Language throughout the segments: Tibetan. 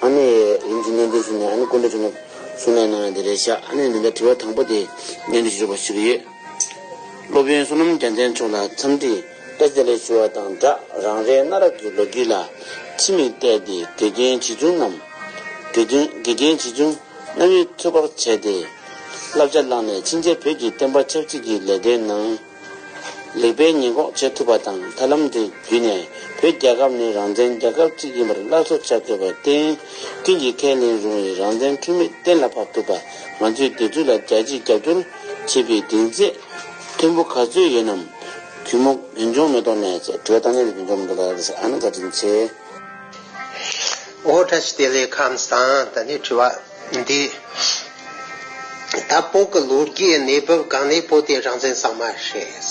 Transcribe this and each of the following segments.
ཨ་ནེ། རིམ་གྱིས་གནས་འདིར་ཕྱིན་ནས་ཨ་ནེ་སྐུ་འདྲ་བྱུང་ན། གསུང་ལན་གནང་ན་འདི་རེད་བཞག་ཨ་ནེ་འདི་འདྲ་དྲི་བ་དང་པོ་དེ། གནས་འདིར་བཞུགས་པར་ཞུ་གི་ཡོད། སློབ་དཔོན་བསོད་ནམས་རྒྱལ་མཚན་མཆོག་ལ་འཚམས་འདྲི་ལྟ་ཙེ་ལེ་ཞུ་བ་དང་སྦྲགས་རང་རེའི་གནའ་རབས་ཀྱི་ལོ་རྒྱུས་ལ་ཕྱི་མིག་བལྟས་ཏེ་དགེ་རྒན་བྱིས་ཆུང་རྣམས། དགེ་རྒན་དགེ་རྒན་བྱིས་ཆུང་གནའ་བོའི་ཚོད་དཔག་བྱས་ཏེ། བསླབ་བྱ་བླངས་ནས་ཕྱིན་ཆད་བོད་ཀྱི་བསྟན་པ་ཆབ་སྲིད་ཀྱི་ལས་དོན་ནང། ལེགས་པའི་ཉེས་འགོག་བྱེད་ཐུབ་པ་དང་ཐབས་ལམ་འདི་བརྒྱུད་ནས་བོད་རྒྱལ་ཁབ་ནི་རང་བཙན་རྒྱལ་ཁབ་ཅིག་ཡིན་པར་སླར་གསོ་བྱ་དགོས་པར་བརྟེན། ཀུན་གྱིས་ཁས་ལེན་རུང་བའི་རང་བཙན་འཁྲུལ་མེད་གཏན་ལ་ཕབ་ཐུབ་པ་ང་ཚོས་དེ་ཚོ་ལ་རྒྱལ་གཅེས་རྒྱབ་སྐྱོར་བྱེད་པའི་གདེང་ཚད་མཐོན་པོ་ག་ཚོད་ཡོད་ནམ། གུས་མོ་གུན་ཆོང་མེ་ཏོག་ནས་ཅེས་བྲོས་བཏང་ནས་ལས་ཀུན་ཆོམ་རྡོ་ལགས་ལས་སར་ཨ་ནེ་བཀའ་དྲིན་ཆེ། ཨོ་ཏྲ་ཤི་ཏེ་ལས་ཁམས་སངས་ད་ནི་དྲི་བ། འདི་ད་སྤོ་གི་ལོ་རྒྱུས་གནས་བབ་གང་ནས་སྤོ་དེ་རང་བཙན་གཙང་མ་རེད།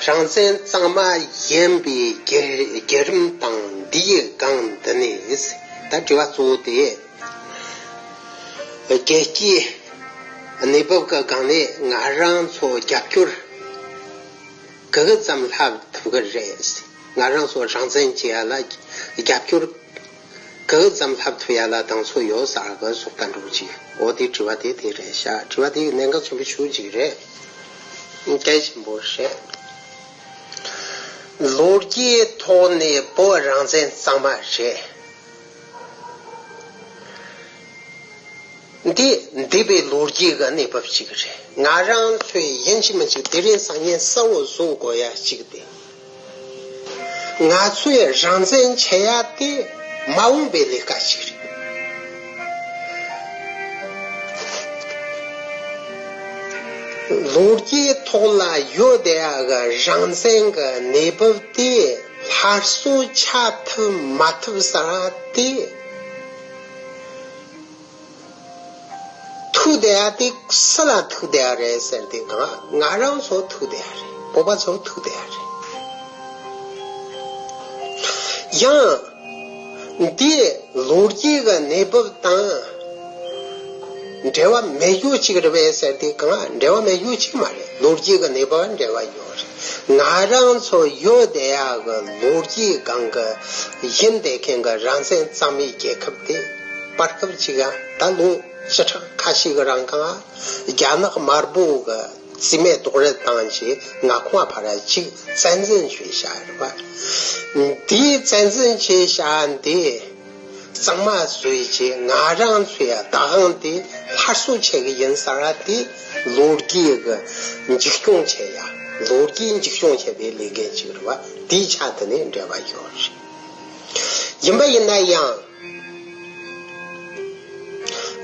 རང་བཙན་གཙང་མ་ཡིན་པའི་རྒྱལ་རིམ་དང་འདིའི་སྒང་འདི་ནས་ད་དྲི་བ་གཙོ་བོ་དེ། རྒྱལ་སྤྱིའི་གནས་བབ་གི་སྒང་ནས་ང་རང་ཚོ་རྒྱབ་སྐྱོར་ག་གི་ཙམ་ལྷག་ཐུབ་གི་རེད། ང་རང་ཚོ་རང་བཙན་བྱེད་ཡ་ལ་རྒྱབ་སྐྱོར་གང་ཙམ་ལྷག་ཐུ་ཡ་ལ་དང་ཚོ་ཡོ་ས་ཨ་བ་སོགས་ལྟ་འགྲོ་ཅིག་འོ་དེ་དྲི་བ་དེ་དེ་རེད་ཤག་དྲི་བ་དེ་ཡི་གནད་འགག་ཆེན་པོ་ཤུགས་གཅིག་རེད་སྐད་ཆེན་པོ་བཤད། ལོ་རྒྱས་ཐོག་ནས་བོད་རང་བཙན་གཙང་མ་རེད། འདི་འདི་པའི་ལོ་རྒྱས་གི་གནས་བབ་ཅིག་རེད་ང་རང་ལྷོད་ཡན་ཆེ་མ་ཅིག་དེ་རིང་བཟང་ངན་གསལ་བོ་བཟོ་དགོས་ཡ་གཅིག་དེ། ང་ཚོས་རང་བཙན་བྱེད་ཡ་དེ་མ་འོངས་པའི་ལས་ཀ་ཞིག་རེད། ལོ་བརྒྱའི་ཐོག་ལ་ཡོད་བསྡད་ཡ་གི་རང་བཙན་གྱི་གནས་བབ་དེ་སླར་གསོ་བྱ་ཐུབ་མ་ཐུབ་ས་དེ། ཐུགས་བདེ་ཡ་དེ་སུ་ལ་ཐུགས་བདེ་ཡ་རེད་ཟེར་དེ་ང་ང་རང་ཚོ་ཐུགས་བདེ་ཡ་རེད་བོད་པ་ཚོ་ཐུགས་བདེ་ཡ་རེད། ཡང་འདི་ལོ་རྒྱུས་ཀྱི་གནས་བབ་དང་འབྲེལ་བ་མེད་རྒྱུ་གཅིག་རེད་པས་ཟེར་དེ་གང་འབྲེལ་བ་མེད་རྒྱུ་གཅིག་མ་རེད་ལོ་རྒྱུས་ཀྱི་གནས་བབ་འབྲེལ་བ་ཡོད་རེད་ང་རང་ཚོ་ཡུལ་བདེ་ཡག་གི་ལོ་རྒྱུས་སྒང་གི་ཡིན་དེ་མཁན་གྱི་རང་བཙན་གཙང་མའི་རྒྱལ་ཁབ་དེ། བར་སྐབས་ཅིག་ད་ལོའི་བྱེ་བྲག་ཁ་ཤས་ཀྱི་རང་ཁང་རྒྱ་ནག་དམར་པོ་གི་རྩིས་མེད་རྡོག་རོལ་བཏང་རྗེས་ང་ཁོང་ཕར་གཅིག་བཙན་འཛིན་བྱས་ཤག་རེད་པ། དེའི་བཙན་འཛིན་བྱས་ཤག་འདི་གཙང་མ་བཟོས་རྗེས་ང་རང་ཚོའི་བདག་དབང་དེ་སླར་གསོ་བྱེད་ཀྱི་ཡིན་ཟེར་བ་དེ་ལོ་རྒྱས་ཀྱི་འཇིགས་སྐྱོང་བྱེད་ཡ་ལོ་རྒྱས་འཇིགས་སྐྱོང་བྱེད་པའི་ལས་འགན་ཅིག་རེད་པ་དེའི་ཆ་འདི་ནས་འབྲེལ་བ་ཡོད་རེད། ཡིན་པ་ཡིན་ན་ཡང།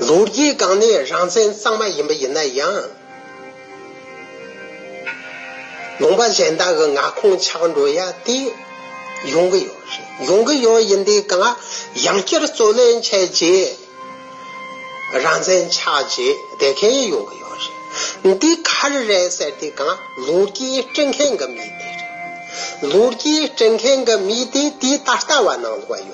ལོ་རྒྱུས་སྒང་ནས་རང་བཙན་གཙང་མ་ཡིན་པ་ཡིན་ན་ཡང། ལུང་པ་གཞན་དག་གི་མངའ་ཁོངས་ཆགས་འགྲོ་ཡ་དེ་ཡོང་གི་ཡོད་རེད། ཡོང་གི་ཡོད་ཡིན་དེ་ག་ཡང་བསྐྱར་རྩོད་ལེན་བྱས་རྗེས། རང་བཙན་ཆགས་རྗེས་དེ་ག་ཡང་ཡོང་གི་ཡོད་རེད། འདི་ག་རེ་རེད་ཟེར་དེ་ག་ལོ་རྒྱུས་སྤྲོད་མཁན་གི་མི་དེ་རེད། ལོ་རྒྱུས་སྤྲོད་མཁན་གི་མི་དེ་དེ་ད་ལྟ་བ་ནང་ལོགས་ཡོད།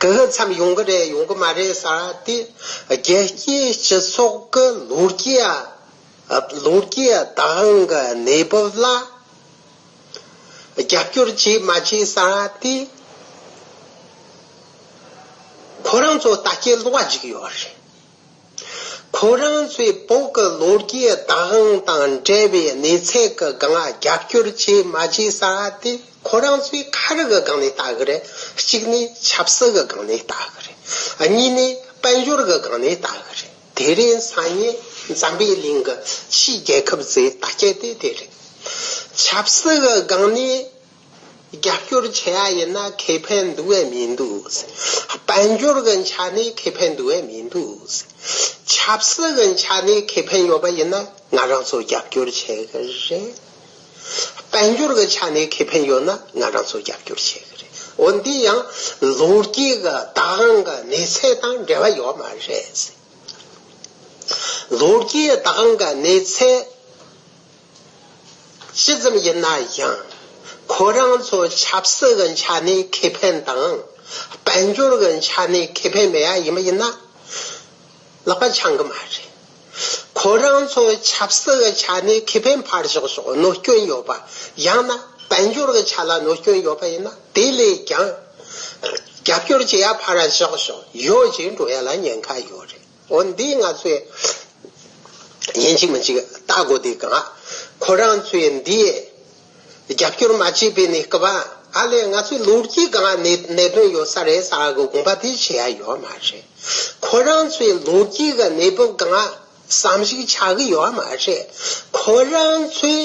གི་གི་འཚམས་ཡོང་གི་རེད་ཡོང་གི་མ་རེད་ས་དེ་རྒྱལ་སྤྱིའི་སྤྱི་ཚོགས་ཀྱི་ལོ་རྒྱུས་ལོ་རྒྱུས་དང་གི་གནས་བབ་ལ་རྒྱབ་སྐྱོར་བྱེད་མ་བྱེད་ས་དེ་ཁོ་རང་ཚོ་ལྟ་སྐྱེལ་བ་ཅིག་ཡོད་རེད། ཁོ་རང་ཚོས་བོད་ཀྱི་ལོ་རྒྱུས་བདག་དབང་དང་འབྲེལ་བའི་གནས་ཚད་ཀྱི་སྒང་ལ་རྒྱབ་སྐྱོར་བྱས་མ་བྱས་ས་དེ་ཁོ་རང་ཚོས་ཁ་རི་གི་སྒང་ནས་ལྟ་གི་རེད། གཅིག་ནས་ཆབ་སྲིད་ཀྱི་སྒང་ནས་ལྟ་གི་རེད། གཉིས་ནས་དཔལ་འབྱོར་གྱི་སྒང་ནས་ལྟ་གི་རེད། དེ་རིང་སང་ཉིན་འཛམ་པའི་གླིང་གི་ཕྱིའི་རྒྱལ་ཁབ་ཚོའི་བརྡ་སྐད་དེ་དེ་རེད། ཆབ་སྲིད་ཀྱི་སྒང་ནས་རྒྱབ་སྐྱོར་བྱེད་ཡ་ཡིན་ན་ཁེ་ཕན་འདུ་བས་མི་འདུག། དཔལ་འབྱོར་གྱི་ཆ་ནས་ཁེ་ཕན་འདུ་བས་མི་འདུག། ཆབ་སྲིད་ཀྱི་ཆ་ནས་ཁེ་ཕན་ཡོད་པ་ཡིན་ན་ང་རང་ཚོ་རྒྱབ་སྐྱོར་བྱེད་ཀྱི་རེད། དཔལ་འབྱོར་གྱི་ཆ་ནས་ཁེ་ཕན་ཡོད་ན་ང་རང་ཚོ་རྒྱབ་སྐྱོར་བྱེད་ཀྱི་རེད། འོན་ཏེ་ཡང་ལོ་རྒྱུས་ཀྱི་བདག་དབང་གི་གནས་ཚད་དང་འབྲེལ་བ་ཡོད་མ་རེད། ལོ་རྒྱུས་བདག་དབང་གི་གནས་ཚད་ཅི་ཙམ་ཡིན་ན་ཡང་ཁོ་རང་ཚོ་ཆབ་སྲིད་ཀྱི་ཆ་ནས་ཁེ་ཕན་དང། དཔལ་འབྱོར་གྱི་ཆ་ནས་ཁེ་ཕན་མེད་ཡ་ཡིན་པ་ཡིན་ན་ལག་པ་འཆང་གི་མ་རེད། ཁོ་རང་ཚོ་ཆབ་སྲིད་ཀྱི་ཆ་ནས་ཁེ་ཕན་ཕར་ཞོག་ཞོག་གནོད་སྐྱོན་ཡོད་པ་ཡང་ན་དཔལ་འབྱོར་གྱི་ཆ་ལ་གནོད་སྐྱོན་ཡོད་པ་ཡིན་ན་དེ་ལས་ཀྱང་རྒྱབ་སྐྱོར་བྱེད་ཡ་ཕར་ཞོག་ཞོག་ཡོད་ཅེས་འགྲོ་ཡ་ལ་ཉེན་ཁ་ཡོད་རེད། འོ་འདི་ང་ཚོས་ཡིན་གཅིག་མིན་གཅིག་བལྟ་དགོས་འདུག་ག་ཁོ་རང་ཚོས་འདི་རྒྱབ་སྐྱོར་མ་བྱས་པའི་ནི་སྐབས་ཨ་ལས་ང་ཚོའི་ལུགས་ཀྱི་གང་གནད་དོན་ཡོད་ས་རེད་ས་གི་དགོངས་པ་དེ་བྱས་ཡ་ཡོད་མ་རེད། ཁོ་རང་ཚོའི་ལུགས་ཀྱི་གི་གནས་བབ་གང་བསམ་གཞིག་བྱ་གི་ཡོད་མ་རེད། ཁོ་རང་ཚོའི་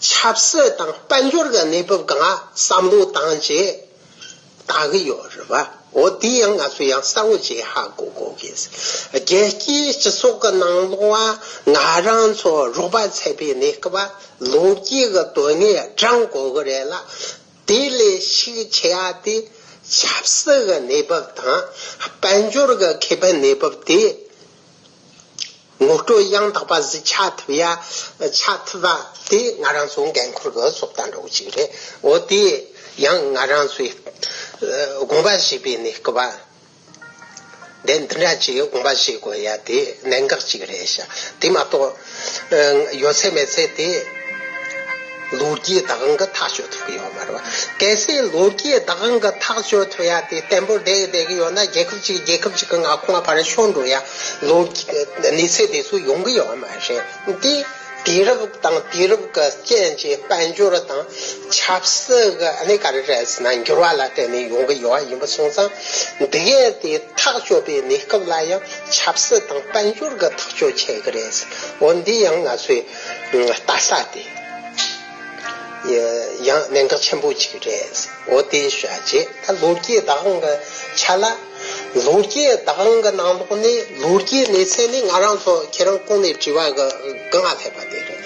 ཆབ་སྲིད་དང་དཔལ་འབྱོར་གི་གནས་བབ་གང་བསམ་བློ་བཏང་རྗེས། བཏང་གི་ཡོད་རེད་བ། འོ་འདི་ཡང་ང་ཚོ་ཡང་གསར་བོ་ཅིག་ཧ་གོ་གོ་གི། རྒྱལ་སྤྱིའི་སྤྱི་ཚོགས་ཀྱི་ནང་ལོགས་བ་ང་རང་ཚོ་རོགས་པ་ཚད་པའི་ནས་ཀྱི་བ་ལོ་རྒྱུས་ཀྱི་དོན་ནས་དྲང་གོ་གི་རེད་ལ། དེ་ལས་ཤིག་ཆེ་བ་དེ་ཆབ་སྲིད་ཀྱི་གནས་བབ་དང་དཔལ་འབྱོར་ཀྱི་ཁེ་ཕན་གནས་བབ་དེ་ངོ་སྤྲོད་ཡང་དག་པ་གཟིགས་ཆ་ཐུབ་ཡ། ཆ་ཐུབ་པ་དེ་ང་རང་ཚོ་འགན་འཁུར་གི་སྲོག་རྩ་འགྲོ་གི་ཞིག་རེད་འོ་དེ་ཡང་ང་རང་ཚོའི་དགོངས་པ་བཞེས་པའི་ནས་སྐུ་པ་དེ་འདི་འདྲ་ཅིག་དགོངས་པ་བཞེས་དགོས་ཡ་དེ་གནད་འགག་ཅིག་རེད་ཤག་དེ་མ་གཏོགས། ཡོད་ཚད་མེད་ཚད་དེ། ལོ་རྒྱུས་བདག་དབང་གིས་ཐག་གཅོད་ཐུབ་ཀྱི་ཡོད་མ་རེད་པ། གལ་སྲིད་ལོ་རྒྱུས་བདག་དབང་གིས་ཐག་གཅོད་ཐུབ་ཡ་དེ་བརྟན་པོར་བསྡད་བསྡད་ཀྱི་ཡོད་ན་རྒྱལ་ཁབ་གཅིག་རྒྱལ་ཁབ་གཅིག་གི་མངའ་ཁོངས་བར་ཤོར་འགྲོ་ཡ། ལོ། གནས་ཚད་དེ་ཚོ་ཡོང་གི་ཡོད་མ་རེད་དེ། དུས་རབས་དང་དུས་རབས་ཀྱི་རྐྱེན་གྱིས་དཔལ་འབྱོར་དང། ཆབ་སྲིད་ཀྱི་གནས་ག་རེ་རེད་ཟེར་ན་འགྱུར་བ་ལ་བརྟེན་ནས་ཡོང་གི་ཡོད་ཡིན་པ་སོང་ཙང། འདི་གའི་དེ་ཐག་གཅོད་པའི་གནས་སྐབས་ལ་ཡང། ཆབ་སྲིད་དང་དཔལ་འབྱོར་གྱི་ཐག་གཅོད་བྱེད་ཀྱི་རེད། འོ་འདི་ཡང་ང་ཚོའི་ལྟ་ས་དེ་ཡང་གནད་འགག་ཆེན་པོ་གཅིག་རེད། འོ་དེ་བྱས་རྗེས་ད་ལོ་རྒྱས་བདག་དབང་གི་ཆ་ལ། ལོ་རྒྱས་བདག་དབང་གི་ནང་ལོགས་ནས་ལོ་རྒྱས་གནས་ཚད་ནི་ང་རང་ཚོ་ཁྱེད་རང་སྐུང་ནས་དྲི་བ་གི་སྔ་ཕེབས་པ་དེ་རེད།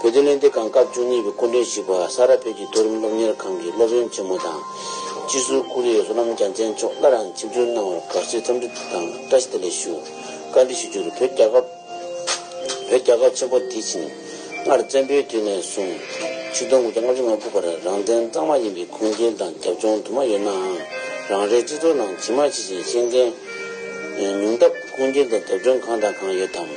བོད་དོན་གླེང་སྟེགས་ཁང་སྐབས་བཅུ་གཉིས་པའི་སྐུ་མགྲོན་ཞིག་པ་ས་རཱ་བོད་ཀྱི་མཐོ་རིམ་སློབ་གཉེར་ཁང་གི་སློབ་ཡོན་ཆེན་མོ་དང། སྤྱི་ཟུར་ཀུ་རེའི་བསོད་ནམས་རྒྱ་མཚན་མཆོག་སླར་ཡང་ཆིབས་བསྒྱུར་གནང་བར་དགའ་བསུའི་འཚམས་འདྲི་དང་བཀྲ་ཤིས་བདེ་ལེགས་ཞུ། བཀའ་འདྲི་ཞུ་རྒྱུར་བོད་རྒྱ་ཁབ། བོད་རྒྱ་ཁབ་ཆེན་པོ་དེ་ཕྱིན། སྔར་བཙན་པོའི་དུས་ནས་བཟུང། ཆིག་སྟོང་དགུ་བརྒྱ་ལྔ་བཅུ་ང་དགུ་བར་རང་བཙན་གཙང་མ་ཡིན་པའི་ཁུངས་སྐྱེལ་དང་རྒྱབ་ལྗོངས་དུ་མ་ཡོད་ནའང། རང་རེའི་སྤྱི་ཚོགས་ནང་ཇི་མ་ཇི་བཞིན་ཤེས་མཁན། ཉུང་སྟབས་ཁུངས་སྐྱེལ་དང་རྒྱབ་ལྗོངས་གང་དང་གང་ཡོད་དམ།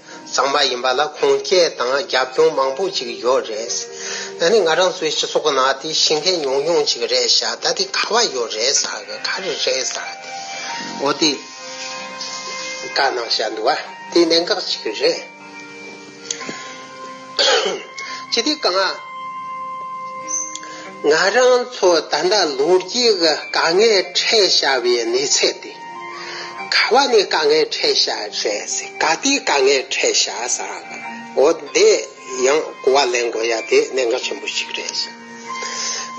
ཚང་མ་ཡིན་པ་ལ་ཁུངས་སྐྱེལ་དང་རྒྱབ་སྐྱོང་མང་པོ་ཅིག་ཡོད་རེད། ད་ནི་ང་རང་ཚོའི་སྤྱི་ཚོགས་ནང་དེ་ཤིན་ཁན་ཉུང་ཉུང་ཅིག་རེད་ཤག་ད་དེ་ག་བ་ཡོད་རེད་ཟེར་གི་ག་རེ་རེད་ཟེར་ཏེ་འོ་དེ་དགའ་སྣང་བཤད་འདུག་བ་དེ་གནད་འགག་ཅིག་རེད། ཅི་སྟེ་གང་ང་རང་ཚོ་ད་ལྟ་ལོ་རྒྱུས་ཀྱི་དཀའ་ངལ་འཕྲད་བཞའ་བའི་གནས་ཚད་དེ། ག་བ་ནི་དཀའ་ངལ་འཕྲད་ཤ་རེད་ཟེར་ག་དེའི་དཀའ་ངལ་འཕྲད་ཤ་ཟ་འོ་དེ་ཡང་གོ་བ་ལེན་དགོས་ཡ་དེ་གནད་འགག་ཆེན་པོ་ཞིག་རེད་ཟེར།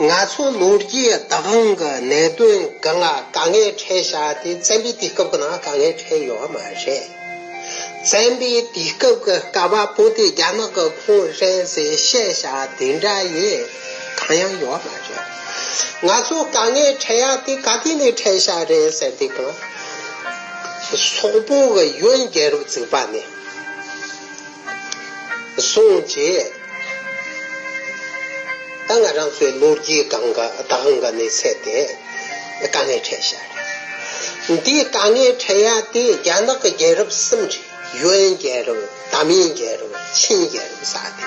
ང་ཚོ་ལོ་རྒྱུས་བདག་དབང་གི་གནད་དོན་འགའ་ལ་དཀའ་ངལ་འཕྲད་ཤ་དེ་བཙན་པོའི་དུས་སྐབས་ཀྱི་ནང་དཀའ་ངལ་འཕྲད་ཡོད་བ་མ་རེད། བཙན་པོའི་དུས་སྐབས་ཀྱི་ག་བ་པོ་དེ་རྒྱ་ནག་གི་ཁོངས་རེད་ཟེར་བཤད་ཤ་དེ་འདྲ་ཡིན་གང་ཡང་ཡོད་མ་རེད། ང་ཚོ་དཀའ་ངལ་འཕྲད་ཡག་དེ་ག་དུས་ནས་འཕྲད་ཤག་རེད་ཟེར་འདུག་གམ། སོག་པོ་གི་གཡོན་རྒྱལ་རབས་བཙུགས་པ་ནས་བཟུང་རྗེས་ད་ང་རང་ཚོའི་ལོ་རྒྱུས་སྟེང་གི་དེང་གི་གནས་ཚད་དེ་དཀའ་ངལ་འཕྲད་ཤག་རེད། འདི་དཀའ་ངལ་འཕྲད་ཡག་དེ་རྒྱ་ནག་གི་རྒྱལ་རབས་གསུམ་རེད་གཡོན་རྒྱལ་རབས་དམ་ཡན་རྒྱལ་རབས་ཆིན་རྒྱལ་རབས་ས་དེ།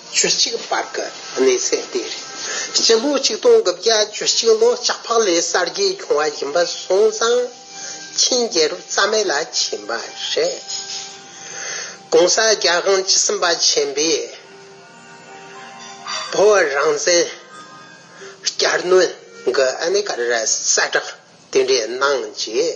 བཅུ་གཅིག་པར་དགའ་ནི་ཚེ་འདས་རེད། སྤྱི་ལོ་ཆིག་སྟོང་དགུ་བརྒྱ་བཅུ་གཅིག་ལོ་ལྕགས་ཕག་ལས་གསར་བརྗེ་བྱུང་བ་ཡིན་པ་སོང་ཙང་ཆིན་རྒྱལ་རབས་རྩ་མེད་ལ་ཕྱིན་པ་རེད། ྋགོང་ས ྋརྒྱལ་དབང་བཅུ་གསུམ་པ་ཆེན་པོས་བོད་རང་བཙན་བསྐྱར་གནོན་གྱི་གནད་ཀ་རེ་གསལ་བསྒྲགས་དེ་འདྲས་གནང་རྗེས།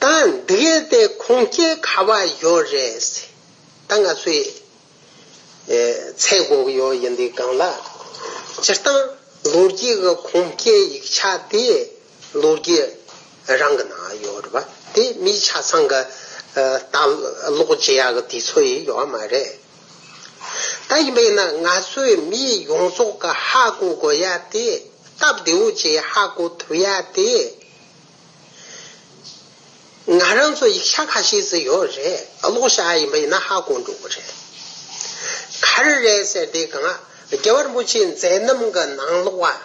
ད་འདི་གས་དེ་ཁོང་སྐྱེ་ག་བ་ཡོད་རེད། ད་ང་ཚོའི་ཚེ་འགོག་ཡོད་ཡིན་འདི་གང་ལ། སྤྱིར་བཏང་ལོ་རྒྱུས་ཀྱི་ཁོང་སྐྱེ་ཡིག་ཆ་དེ་ལོ་རྒྱུས་རང་གི་ནང་ཡོད་རེད་པ་དེ་མིའི་ཆ་ཚང་གི་ལྟ་ཀློག་བྱེད་ཡག་དེ་ཚོ་ཡི་ཡོད་མ་རེད། ད་ཡིན་པས་ན་ང་ཚོའི་མི་ཡོངས་རྫོགས་ཀྱི་ཧ་གོ་དགོས་ཡ་དེ་སྟབས་བདེ་བོ་བྱེད་ཧ་གོ་ཐུབ་ཡ་དེ་ང་རང་ཚོ་ཡིག་ཆ་ཁ་ཤས་བཟོས་ཡོད་རེད་གློག་ཞགས་ཡིན་པ་ཡིན་ན་ཧ་གོ་འགྲོ་གི་རེད། གར་རེད་ཟེར་དེ་གང་རྒྱལ་བ་རིན་པོ་ཆེའི་མཛད་རྣམ་གི་ནང་ལོག་བ།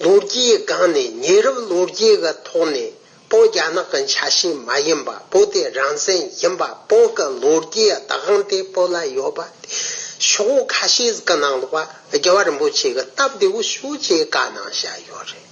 ལོ་རྒྱའི་སྒང་ནས་ཉེ་རབས་ལོ་རྒྱས་ཀྱི་ཐོག་ནས་པོ་རྒྱ་ནག་གི་ཆ་ཤས་མ་ཡིན་པ་པོ་དེ་རང་བཙན་ཡིན་པ་པོ་གི་ལོ་རྒྱའི་བདག་དབང་དེ་པོ་ལ་ཡོད་པ་དེ་ཤོག་ཁ་ཤས་ཀྱི་ནང་ལོག་བ་རྒྱལ་བ་རིན་པོ་ཆེ་གི་སྟབས་བདེ་བོ་ཞུ་རྒྱའི་བཀའ་གནང་བཞག་ཡོད་རེད།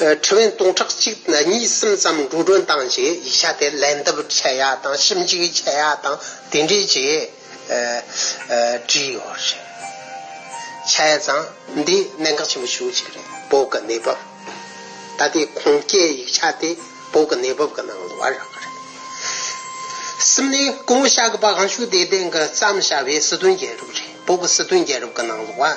ཁྲི་བན་སྟོང་ཕྲག་གཅིག་གཉིས་གསུམ་ཙམ་འགྲོ་གྲོན་བཏང་རྗེས་ཡིག་ཆ་དེ་ལན་བསྡུ་བྱས་ཡག་དང་ཞིབ་འཇུག་བྱས་ཡག་དང་དེ་འདྲའི་རྗེས་བྲིས་ཡོད་རེད། ཆ་ཡ་ཚང་འདི་གནད་འགག་ཆེན་པོ་ཞུ་གཅིག་རེད་བོད་ཀྱི་གནས་བབ་ད་ལྟའི་ཁུངས་སྐྱེལ་ཡིག་ཆ་དེ་བོད་ཀྱི་གནས་བབ་ཀྱི་ནང་དུ་བར་རག་རེད། གསུམ་ནས་སྐུ་ངོ་ཤག་གི་པ་གང་ཞུ་དེ་དེང་གི་བརྩམས་བྱ་བའི་སྲིད་དོན་རྒྱལ་རབས་རེད་བོད་ཀྱི་སྲིད་དོན་རྒྱལ་རབས་ཀྱི་ནང་དུ་བར